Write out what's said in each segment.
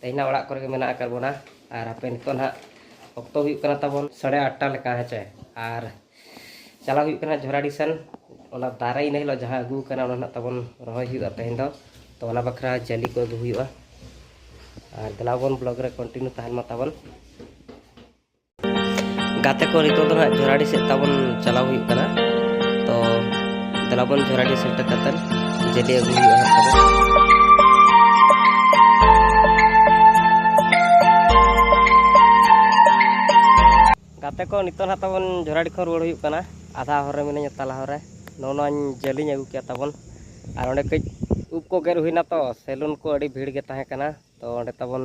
ᱛᱮᱦᱮᱧ ᱚᱲᱟᱜ ᱠᱚᱨᱮ ᱜᱮ ᱢᱮᱱᱟᱜ ᱟᱠᱟᱫ ᱵᱚᱱᱟ ᱟᱨ ᱦᱟᱯᱮ ᱱᱤᱛᱚᱜ ᱱᱟᱦᱟᱜ ᱚᱠᱛᱚ ᱦᱩᱭᱩᱜ ᱠᱟᱱᱟ ᱛᱟᱵᱚᱱ ᱥᱟᱲᱮ ᱟᱴᱴᱟ ᱞᱮᱠᱟ ᱦᱮᱸᱪᱮ ᱟᱨ ᱪᱟᱞᱟᱣ ᱦᱩᱭᱩᱜ ᱠᱟᱱᱟ ᱡᱷᱚᱨᱟᱰᱤ ᱥᱮᱱ ᱚᱱᱟ ᱫᱟᱨᱮ ᱤᱱᱟᱹ ᱦᱤᱞᱳᱜ ᱡᱟᱦᱟᱸ ᱟᱹᱜᱩ ᱠᱟᱱᱟ ᱚᱱᱟ ᱱᱟᱦᱟᱜ ᱛᱟᱵᱚᱱ ᱨᱚᱦᱚᱭ ᱦᱩᱭᱩᱜᱼᱟ ᱛᱮᱦᱮᱧ ᱫᱚ ᱛᱚ ᱚᱱᱟ ᱵᱟᱠᱷᱨᱟ ᱡᱟᱹᱞᱤ ᱠᱚ ᱟᱹᱜᱩ ᱦᱩᱭᱩᱜᱼᱟ ᱟᱨ ᱫᱮᱞᱟᱵᱚᱱ ᱵᱞᱚᱜᱽ ᱨᱮ ᱠᱚᱱᱴᱤᱱᱤᱭᱩ ᱛᱟᱦᱮᱱ ᱢᱟ ᱛᱟᱵᱚᱱ ᱜᱟᱛᱮ ᱠᱚ ᱱᱤᱛᱚᱜ ᱫᱚ ᱦᱟᱸᱜ ᱡᱷᱚᱨᱟᱰᱤ ᱥᱮᱫ ᱛᱟᱵᱚᱱ ᱪᱟᱞᱟᱣ ᱦᱩᱭᱩᱜ ᱠᱟᱱᱟ ᱛᱚ ᱫᱮᱞᱟ ᱵᱚᱱ ᱡᱷᱚᱨᱟᱰᱤ ᱥᱮᱴᱮᱨ ᱠᱟᱛᱮᱫ ᱡᱮᱞᱮ ᱟᱹᱜᱩ ᱦᱩᱭᱩᱜᱼᱟ ᱦᱟᱸᱜ ᱛᱟᱵᱚᱱ ᱜᱟᱛᱮ ᱠᱚ ᱱᱤᱛᱚᱜ ᱦᱟᱸᱜ ᱛᱟᱵᱚᱱ ᱡᱷᱚᱨᱟᱰᱤ ᱠᱷᱚᱱ ᱨᱩᱣᱟᱹᱲ ᱦᱩᱭᱩᱜ ᱠᱟᱱᱟ ᱟᱫᱷᱟ ᱦᱚᱨ ᱨᱮ ᱢᱤᱱᱟᱹᱧᱟ ᱛᱟᱞᱟ ᱦᱚᱨ ᱨᱮ ᱱᱚᱜᱼᱚ ᱱᱚᱣᱟᱧ ᱡᱟᱹᱞᱤᱧ ᱟᱹᱜᱩ ᱠᱮᱫᱟ ᱛᱟᱵᱚᱱ ᱟᱨ ᱚᱸᱰᱮ ᱠᱟᱹᱡ ᱩᱵ ᱠᱚ ᱜᱮᱨ ᱦᱩᱭᱱᱟ ᱛᱚ ᱥᱮᱞᱩᱱ ᱠᱚ ᱟᱹᱰᱤ ᱵᱷᱤᱲ ᱜᱮ ᱛᱟᱦᱮᱸ ᱠᱟᱱᱟ ᱛᱚ ᱚᱸᱰᱮ ᱛᱟᱵᱚᱱ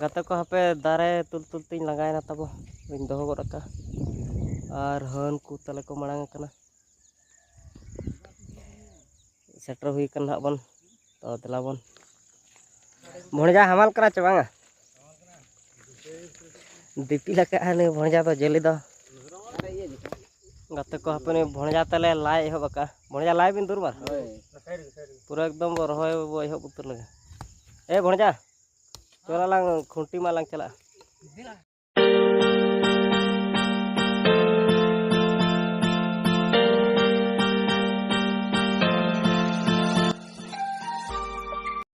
ᱜᱟᱛᱮ ᱠᱚ ᱦᱟᱯᱮ ᱫᱟᱨᱮ ᱛᱩᱞ ᱛᱩᱞ ᱛᱤᱧ ᱞᱟᱸᱜᱟᱭᱮᱱᱟ ᱛᱟᱵᱚ ᱵᱟᱹᱧ ᱫᱚᱦᱚ ᱜᱚᱫ ᱟᱠᱟᱫᱼᱟ ᱟᱨ ᱦᱟᱹᱱ ᱠᱚ ᱛᱟᱞᱮ ᱠᱚ ᱢᱟᱲᱟᱝ ᱟᱠᱟᱱᱟ ᱥᱮᱴᱮᱨ ᱦᱩᱭ ᱟᱠᱟᱱᱟ ᱦᱟᱸᱜ ᱵᱚᱱ ᱛᱚ ᱫᱮᱞᱟ ᱵᱚᱱ ᱵᱷᱚᱸᱡᱟ ᱦᱟᱢᱟᱞ ᱠᱟᱱᱟ ᱪᱮ ᱵᱟᱝᱟ ᱫᱤᱯᱤᱞ ᱟᱠᱟᱫᱼᱟ ᱱᱩᱭ ᱵᱷᱚᱸᱡᱟ ᱫᱚ ᱡᱮᱞᱮ ᱫᱚ ᱜᱟᱛᱮ ᱠᱚ ᱦᱟᱯᱮ ᱵᱷᱚᱸᱡᱟ ᱛᱮᱞᱮ ᱞᱟᱭ ᱮᱦᱚᱵ ᱟᱠᱟᱜᱼᱟ ᱵᱷᱚᱸᱡᱟ ᱞᱟᱭ ᱵᱤᱱ ᱫᱩᱨᱵᱟᱨ ᱯᱩᱨᱟᱹ ᱮᱠᱫᱚᱢ ᱵᱚ ᱨᱚᱦᱚᱭ ᱵᱚ ᱮᱦᱚᱵ ᱩᱛᱟᱹᱨ ᱞᱮᱜᱮ ᱮ ᱵᱷᱚᱸᱡᱟ ᱪᱚᱞᱟ ᱞᱟᱝ ᱠᱷᱩᱱᱴᱤ ᱢᱟ ᱞᱟᱝ ᱪᱟᱞᱟᱜᱼᱟ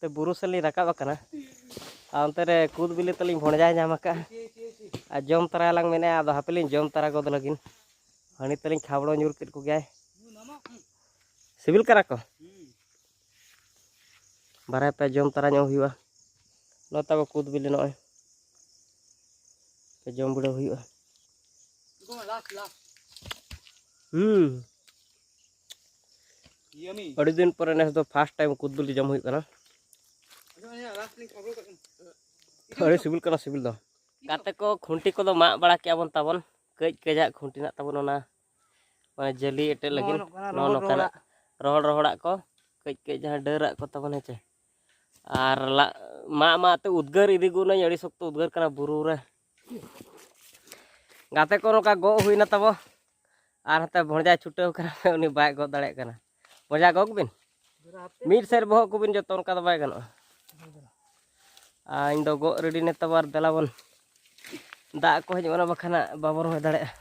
ᱛᱮ ᱵᱩᱨᱩ ᱥᱮᱫ ᱞᱤᱧ ᱨᱟᱠᱟᱵ ᱟᱠᱟᱱᱟ ᱟᱨ ᱚᱱᱛᱮ ᱨᱮ ᱠᱩᱫ ᱵᱤᱞᱤ ᱛᱟᱹᱞᱤᱧ ᱵᱷᱚᱸᱡᱟᱭ ᱧᱟᱢ ᱟᱠᱟᱫᱼᱟ ᱟᱨ ᱡᱚᱢ ᱛᱟᱨᱟᱭᱟᱞᱟᱝ ᱢᱮᱱᱮᱫᱼᱟ ᱟᱫᱚ ᱦᱟᱯᱮ ᱞᱤᱧ ᱡᱚᱢ ᱛᱟᱨᱟ ᱜᱚᱫ ᱞᱟᱹᱜᱤᱫ ᱦᱟᱺᱰᱤ ᱛᱟᱹᱞᱤᱧ ᱠᱷᱟᱵᱽᱲᱚ ᱧᱩᱨ ᱠᱮᱫ ᱠᱚᱜᱮᱭᱟᱭ ᱥᱤᱵᱤᱞ ᱠᱟᱱᱟ ᱠᱚ ᱵᱟᱨᱦᱮ ᱯᱮ ᱡᱚᱢ ᱛᱟᱨᱟ ᱧᱚᱜ ᱦᱩᱭᱩᱜᱼᱟ ᱱᱚᱜᱼᱚᱭ ᱛᱟᱵᱚ ᱠᱩᱫ ᱵᱤᱞᱤ ᱱᱚᱜᱼᱚᱭ ᱯᱮ ᱡᱚᱢ ᱵᱤᱲᱟᱹᱣ ᱦᱩᱭᱩᱜᱼᱟ ᱦᱩᱸ ᱟᱹᱰᱤ ᱫᱤᱱ ᱯᱚᱨᱮ ᱱᱮᱥ ᱫᱚ ᱯᱷᱟᱥᱴ ᱴᱟᱭᱤᱢ ᱠᱩᱫ ᱵᱤᱞᱤ ᱡᱚᱢ ᱦᱩᱭᱩᱜ ᱠᱟᱱᱟ ᱟᱹᱰᱤ ᱥᱤᱵᱤᱞ ᱠᱟᱱᱟ ᱥᱤᱵᱤᱞ ᱫᱚ ᱜᱟᱛᱮ ᱠᱚ ᱠᱷᱩᱱᱴᱤ ᱠᱚᱫᱚ ᱢᱟᱜ ᱵᱟᱲᱟ ᱠᱮᱜᱼᱟ ᱵᱚᱱ ᱛᱟᱵᱚᱱ ᱠᱟᱹᱡ ᱠᱟᱹᱡᱟᱜ ᱠᱷᱩᱱᱴᱤ ᱱᱟᱜ ᱛᱟᱵᱚᱱ ᱚᱱᱟ ᱢᱟᱱᱮ ᱡᱟᱹᱞᱤ ᱮᱴᱮᱫ ᱞᱟᱹᱜᱤᱫ ᱱᱚᱜᱼᱚ ᱱᱚᱝᱠᱟᱱᱟᱜ ᱨᱚᱦᱚᱲ ᱨᱚᱦᱚᱲᱟᱜ ᱠᱚ ᱠᱟᱹᱡ ᱠᱟᱹᱡ ᱡᱟᱦᱟᱸ ᱰᱟᱹᱨᱟᱜ ᱠᱚ ᱛᱟᱵᱚᱱ ᱦᱮᱸᱪᱮ ᱟᱨ ᱢᱟᱜ ᱢᱟᱜ ᱛᱮ ᱩᱫᱽᱜᱟᱹᱨ ᱤᱫᱤ ᱜᱚᱫ ᱱᱟᱹᱧ ᱟᱹᱰᱤ ᱥᱚᱠᱛᱚ ᱩᱫᱽᱜᱟᱹᱨ ᱠᱟᱱᱟ ᱵᱩᱨᱩ ᱨᱮ ᱜᱟᱛᱮ ᱠᱚ ᱱᱚᱝᱠᱟ ᱜᱚᱜ ᱦᱩᱭᱱᱟ ᱛᱟᱵᱚ ᱟᱨ ᱦᱟᱛᱮ ᱵᱷᱚᱸᱡᱟᱭ ᱪᱷᱩᱴᱟᱹᱣ ᱠᱟᱱᱟ ᱩᱱᱤ ᱵᱟᱭ ᱜᱚᱜ ᱫᱟᱲᱮᱭᱟᱜ ᱠᱟᱱᱟ ᱵᱷᱚᱸᱡᱟ ᱜᱚᱜ ᱵᱤᱱ ᱢᱤᱫ ᱥᱮᱫ ᱵᱚᱦᱚᱜ ᱠᱚᱵᱤᱱ ᱡᱚᱛᱚ ᱚᱱᱠᱟ ᱫᱚ ᱵᱟᱭ ᱜᱟᱱᱚᱜᱼᱟ ᱟᱨ ᱤᱧ ᱫᱚ ᱜᱚᱜ ᱨᱮᱰᱤ ᱱᱮ ᱛᱟᱵᱚ ᱟᱨ ᱫᱮᱞᱟ ᱵᱚᱱ ᱫᱟᱜ ᱠᱚ ᱦᱤᱡᱩᱜ ᱠᱟᱱᱟ ᱵᱟᱠᱷᱟᱱ ᱵᱟᱵᱚ ᱨᱚᱦᱚᱭ ᱫᱟᱲᱮᱭᱟᱜᱼᱟ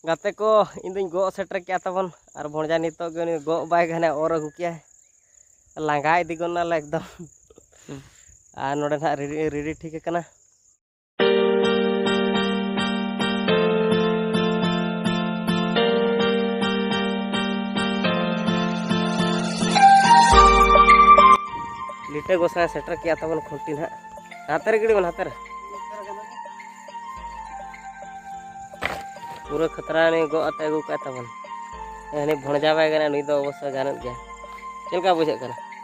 ᱜᱟᱛᱮ ᱠᱚ ᱤᱧ ᱫᱚᱧ ᱜᱚᱜ ᱥᱮᱴᱮᱨ ᱠᱮᱜᱼᱟ ᱛᱟᱵᱚᱱ ᱟᱨ ᱵᱷᱚᱸᱡᱟ ᱱᱤᱛᱚᱜ ᱜᱮ ᱩᱱᱤ ᱜᱚᱜ ᱵᱟᱭ ᱜᱟᱱᱟ ᱚᱨ ᱟᱹᱜᱩ ᱠᱮᱜᱼᱟᱭ ᱞᱟᱸᱜᱟ ᱤᱫᱤ ᱜᱚᱫ ᱱᱟᱞᱮ ᱮᱠᱫᱚᱢ ᱟᱨ ᱱᱚᱰᱮ ᱱᱟᱦᱟᱜ ᱨᱮᱰᱤ ᱴᱷᱤᱠ ᱟᱠᱟᱱᱟ ᱞᱤᱴᱟᱹ ᱜᱚᱥᱟᱭ ᱥᱮᱴᱮᱨ ᱠᱮᱜᱼᱟ ᱛᱟᱵᱚᱱ ᱠᱷᱩᱱᱴᱤ ᱱᱟᱦᱟᱜ ᱦᱟᱛᱮ ᱨᱮ ᱜᱤᱰᱤ ᱵᱚᱱ ᱦᱟᱛᱮ ᱨᱮ ᱯᱩᱨᱟᱹ ᱠᱷᱟᱛᱨᱟ ᱱᱩᱭ ᱜᱚᱜ ᱟᱛᱮ ᱟᱹᱜᱩ ᱠᱟᱜᱼᱟ ᱛᱟᱵᱚᱱ ᱦᱟᱹᱱᱤ ᱵᱷᱚᱸᱡᱟ ᱵᱟᱭ ᱜᱟᱱᱟ ᱱᱩᱭ ᱫᱚ ᱚᱵᱚᱥᱥᱳᱭ ᱜᱟᱱᱚᱜ ᱜᱮᱭᱟ ᱪᱮᱫ ᱞᱮᱠᱟ ᱵᱩᱡᱷᱟᱹᱜ ᱠᱟᱱᱟ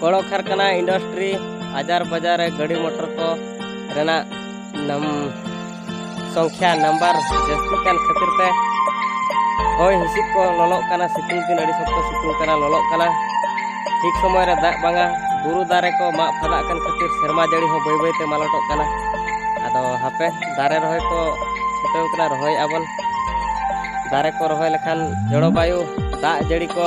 ᱠᱚᱲᱚ ᱠᱟᱨᱠᱷᱟᱱᱟ ᱤᱱᱰᱟᱥᱴᱨᱤ ᱟᱡᱟᱨ ᱵᱟᱡᱟᱨ ᱨᱮ ᱜᱟᱹᱰᱤ ᱢᱚᱴᱚᱨ ᱠᱚ ᱨᱮᱱᱟᱜ ᱱᱟᱢ ᱥᱚᱝᱠᱷᱟ ᱱᱟᱢᱵᱟᱨ ᱡᱟᱹᱥᱛᱤ ᱠᱟᱱ ᱠᱷᱟᱹᱛᱤᱨ ᱛᱮ ᱦᱚᱭ ᱦᱤᱸᱥᱤᱫ ᱠᱚ ᱞᱚᱞᱚᱜ ᱠᱟᱱᱟ ᱥᱤᱛᱩᱝ ᱫᱤᱱ ᱟᱹᱰᱤ ᱥᱚᱠᱛᱚ ᱥᱤᱛᱩᱝ ᱠᱟᱱᱟ ᱞᱚᱞᱚᱜ ᱠᱟᱱᱟ ᱴᱷᱤᱠ ᱥᱚᱢᱚᱭ ᱨᱮ ᱫᱟᱜ ᱵᱟᱝᱟ ᱵᱩᱨᱩ ᱫᱟᱨᱮ ᱠᱚ ᱢᱟᱜ ᱯᱷᱟᱫᱟᱜ ᱠᱟᱱ ᱠᱷᱟᱹᱛᱤᱨ ᱥᱮᱨᱢᱟ ᱡᱟᱹᱲᱤ ᱦᱚᱸ ᱵᱟᱹᱭ ᱵᱟᱹᱭᱛᱮ ᱢᱟᱞᱚᱴᱚᱜ ᱠᱟᱱᱟ ᱟᱫᱚ ᱦᱟᱯᱮ ᱫᱟᱨᱮ ᱨᱚᱦᱚᱭ ᱠᱚ ᱪᱷᱩᱴᱟᱹᱣ ᱠᱟᱱᱟ ᱨᱚᱦᱚᱭᱮᱫᱼᱟ ᱵᱚᱱ ᱫᱟᱨᱮ ᱠᱚ ᱨᱚᱦᱚᱭ ᱞᱮᱠᱷᱟᱱ ᱡᱚᱞᱚᱵᱟᱭᱩ ᱫᱟᱜ ᱡᱟᱹᱲᱤ ᱠᱚ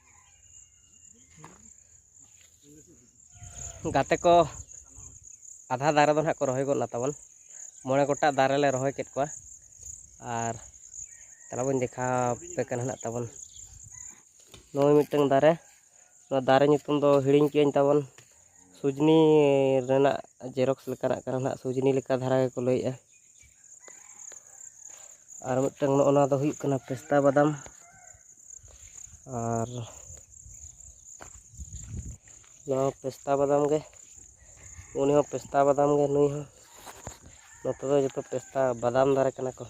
ᱜᱟᱛᱮ ᱠᱚ ᱟᱫᱷᱟ ᱫᱟᱨᱮ ᱫᱚ ᱱᱟᱦᱟᱜ ᱠᱚ ᱨᱚᱦᱚᱭ ᱜᱚᱫ ᱱᱟ ᱛᱟᱵᱚᱱ ᱢᱚᱬᱮ ᱜᱚᱴᱟᱜ ᱫᱟᱨᱮ ᱞᱮ ᱨᱚᱦᱚᱭ ᱠᱮᱫ ᱠᱚᱣᱟ ᱟᱨ ᱛᱟᱦᱚᱞᱮ ᱵᱚᱱ ᱫᱮᱠᱷᱟᱣ ᱟᱯᱮ ᱠᱟᱱᱟ ᱱᱟᱦᱟᱜ ᱛᱟᱵᱚᱱ ᱱᱚᱜᱼᱚᱭ ᱢᱤᱫᱴᱟᱝ ᱫᱟᱨᱮ ᱱᱚᱣᱟ ᱫᱟᱨᱮ ᱧᱩᱛᱩᱢ ᱫᱚ ᱦᱤᱲᱤᱧ ᱠᱮᱜᱼᱟᱹᱧ ᱛᱟᱵᱚᱱ ᱥᱩᱡᱽᱱᱤ ᱨᱮᱱᱟᱜ ᱡᱮᱨᱚᱠᱥ ᱞᱮᱠᱟᱱᱟᱜ ᱠᱟᱱᱟ ᱱᱟᱦᱟᱜ ᱥᱩᱡᱽᱱᱤ ᱞᱮᱠᱟ ᱫᱷᱟᱨᱟ ᱜᱮᱠᱚ ᱞᱟᱹᱭᱮᱜᱼᱟ ᱟᱨ ᱢᱤᱫᱴᱟᱝ ᱱᱚᱜᱼᱚ ᱱᱚᱣᱟ ᱫᱚ ᱦᱩᱭᱩᱜ ᱠᱟᱱᱟ ᱯᱮᱥᱛᱟ ᱵᱟᱫᱟᱢ ᱟᱨ ᱱᱚᱣᱟ ᱯᱮᱥᱛᱟ ᱵᱟᱫᱟᱢ ᱜᱮ ᱩᱱᱤ ᱦᱚᱸ ᱯᱮᱥᱛᱟ ᱵᱟᱫᱟᱢ ᱜᱮ ᱱᱩᱭ ᱦᱚᱸ ᱱᱚᱛᱮ ᱫᱚ ᱡᱚᱛᱚ ᱯᱮᱥᱛᱟ ᱵᱟᱫᱟᱢ ᱫᱟᱨᱮ ᱠᱟᱱᱟ ᱠᱚ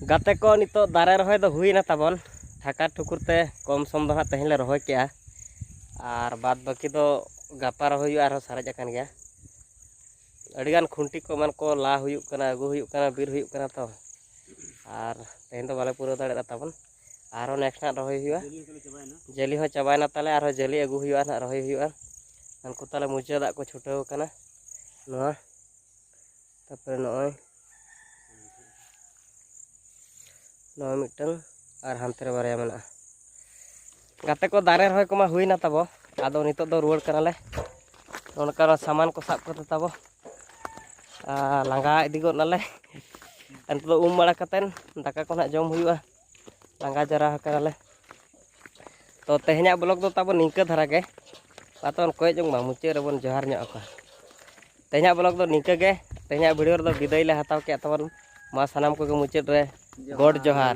ᱜᱟᱛᱮ ᱠᱚ ᱱᱤᱛᱚᱜ ᱫᱟᱨᱮ ᱨᱚᱦᱚᱭ ᱫᱚ ᱦᱩᱭᱱᱟ ᱛᱟᱵᱚᱱ ᱴᱷᱟᱠᱟ ᱴᱷᱩᱠᱩᱨ ᱛᱮ ᱠᱚᱢ ᱥᱚᱢ ᱫᱚ ᱦᱟᱸᱜ ᱛᱮᱦᱮᱧ ᱞᱮ ᱨᱚᱦᱚᱭ ᱠᱮᱜᱼᱟ ᱟᱨ ᱵᱟᱫ ᱵᱟᱹᱠᱤ ᱫᱚ ᱜᱟᱯᱟ ᱨᱚᱦᱚᱭ ᱦᱩᱭᱩᱜᱼᱟ ᱟᱨᱦᱚᱸ ᱥᱟᱨᱮᱡ ᱟᱠᱟᱱ ᱜᱮᱭᱟ ᱟᱹᱰᱤᱜᱟᱱ ᱠᱷᱩᱱᱴᱤ ᱠᱚ ᱮᱢᱟᱱ ᱠᱚ ᱞᱟ ᱦᱩᱭᱩᱜ ᱠᱟᱱᱟ ᱟᱹᱜᱩ ᱦᱩᱭᱩᱜ ᱠᱟᱱᱟ ᱵᱤᱨ ᱦᱩᱭᱩᱜ ᱠᱟᱱᱟ ᱛᱚ ᱟᱨ ᱛᱮᱦᱮᱧ ᱫᱚ ᱵᱟᱞᱮ ᱯᱩᱨᱟᱹᱣ ᱫᱟᱲᱮᱭᱟᱫᱟ ᱛᱟᱵᱚᱱ ᱟᱨᱦᱚᱸ ᱱᱮᱠᱥᱴ ᱦᱟᱸᱜ ᱨᱚᱦᱚᱭ ᱦᱩᱭᱩᱜᱼᱟ ᱡᱟᱹᱞᱤ ᱦᱚᱸ ᱪᱟᱵᱟᱭᱮᱱᱟ ᱛᱟᱞᱮ ᱟᱨᱦᱚᱸ ᱡᱟᱹᱞᱤ ᱟᱹᱜᱩ ᱦᱩᱭᱩᱜᱼᱟ ᱦᱟᱸᱜ ᱨᱚᱦᱚᱭ ᱦᱩᱭᱩᱜᱼᱟ ᱩᱱᱠᱩ ᱛᱟᱞᱮ ᱢᱩᱪᱟᱹᱫ ᱫᱟᱜ ᱠᱚ ᱪᱷᱩᱴᱟᱹᱣ ᱟᱠᱟᱱᱟ ᱱᱚᱣᱟ ᱛᱟᱨᱯᱚᱨᱮ ᱱᱚᱜᱼᱚᱭ ᱱᱚᱣᱟ ᱢᱤᱫᱴᱟᱝ ᱟᱨ ᱦᱟᱱᱛᱮ ᱨᱮ ᱵᱟᱨᱭᱟ ᱢᱮᱱᱟᱜᱼᱟ ᱜᱟᱛᱮ ᱠᱚ ᱫᱟᱨᱮ ᱨᱚᱦᱚᱭ ᱠᱚᱢᱟ ᱦᱩᱭᱱᱟ ᱛᱟᱵᱚ ᱟᱫᱚ ᱱᱤᱛᱚᱜ ᱫᱚ ᱨᱩᱣᱟᱹᱲ ᱠᱟᱱᱟᱞᱮ ᱚᱱᱠᱟ ᱥᱟᱢᱟᱱ ᱠᱚ ᱥᱟᱵ ᱠᱟᱛᱮ ᱛᱟᱵᱚ ᱞᱟᱸᱜᱟ ᱤᱫᱤ ᱜᱚᱫ ᱱᱟᱞᱮ ᱟᱨ ᱱᱤᱛᱚᱜ ᱫᱚ ᱩᱢ ᱵᱟᱲᱟ ᱠᱟᱛᱮᱫ ᱫᱟᱠᱟ ᱠᱚ ᱱᱟᱦᱟᱜ ᱡᱚᱢ ᱦᱩᱭᱩᱜᱼᱟ ᱞᱟᱸᱜᱟ ᱡᱟᱨᱟ ᱟᱠᱟᱱᱟᱞᱮ ᱛᱚ ᱛᱮᱦᱮᱧᱟᱜ ᱵᱞᱚᱜ ᱫᱚ ᱛᱟᱵᱚ ᱱᱤᱝᱠᱟᱹ ᱫᱷᱟᱨᱟ ᱜᱮ ᱟᱛᱚᱱ ᱠᱚᱭ ᱡᱚᱝ ᱢᱟ ᱢᱩᱪᱟᱹᱫ ᱨᱮᱵᱚᱱ ᱡᱚᱦᱟᱨ ᱧᱚᱜ ᱟᱠᱚ ᱛᱮᱦᱮᱧᱟᱜ ᱵᱞᱚᱜ ᱫᱚ ᱱᱤᱝᱠᱟᱹ ᱜᱮ ᱛᱮᱦᱮᱧᱟᱜ ᱵᱷᱤᱰᱤᱭᱳ ᱨᱮᱫᱚ ᱵᱤᱫᱟᱹᱭ ᱞᱮ ᱦᱟᱛᱟᱣ ᱠᱮᱫ ᱛᱟᱵᱚᱱ ᱢᱟ ᱥᱟᱱᱟᱢ ᱠᱚᱜᱮ ᱢᱩᱪᱟᱹᱫ ᱨᱮ ᱜᱚᱰ ᱡᱚᱦᱟᱨ